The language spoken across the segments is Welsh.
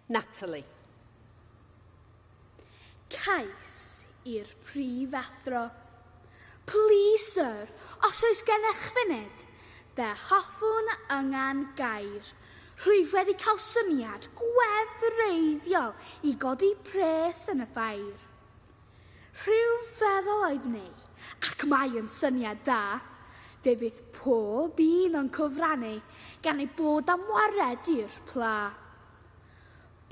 Natalie. Cais i'r Prif Athro. Plîs Syr, os oes gennych funud, fe hoffwn yngan gair. Rwyf wedi cael syniad gwefreiddiol i godi pres yn y ffair. Rhyfeddol oedd May, ac mae yn syniad da. Fe fydd pob un o'n cyfrannu gan eu bod am wared i'r pla.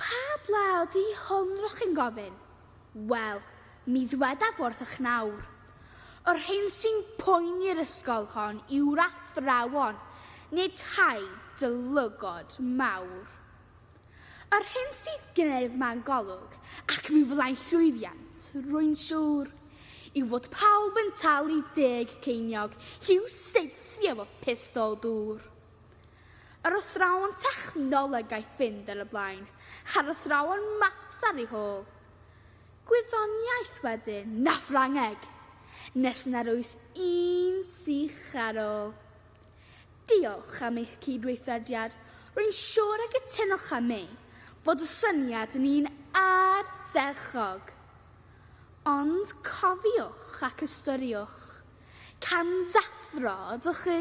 Pa bla ydy hwn r'ych chi'n gofyn? Wel, mi ddwedaf wrthych nawr. Yr hyn sy'n poeni'r ysgol hon yw'r athrawon, nid rhai dylygod mawr. Yr hyn sydd gen i ef mewn golwg, ac mi fyddai'n llwyddiant, rwy'n siŵr, yw fod pawb yn talu deg ceiniog i'w saethu efo pistol dŵr. Yr athrawon technoleg aeth fynd ar y blaen, a'r athrawon maths ar ei hôl. Gwyddoniaeth wedyn, na Ffrangeg, nes nad oes un sych ar ôl. Diolch am eich cydweithrediad. Rwy'n siŵr y cytunoch â mi fod y syniad yn un ardderchog. Ond cofiwch ac ystyriwch, cansathro ydych chi.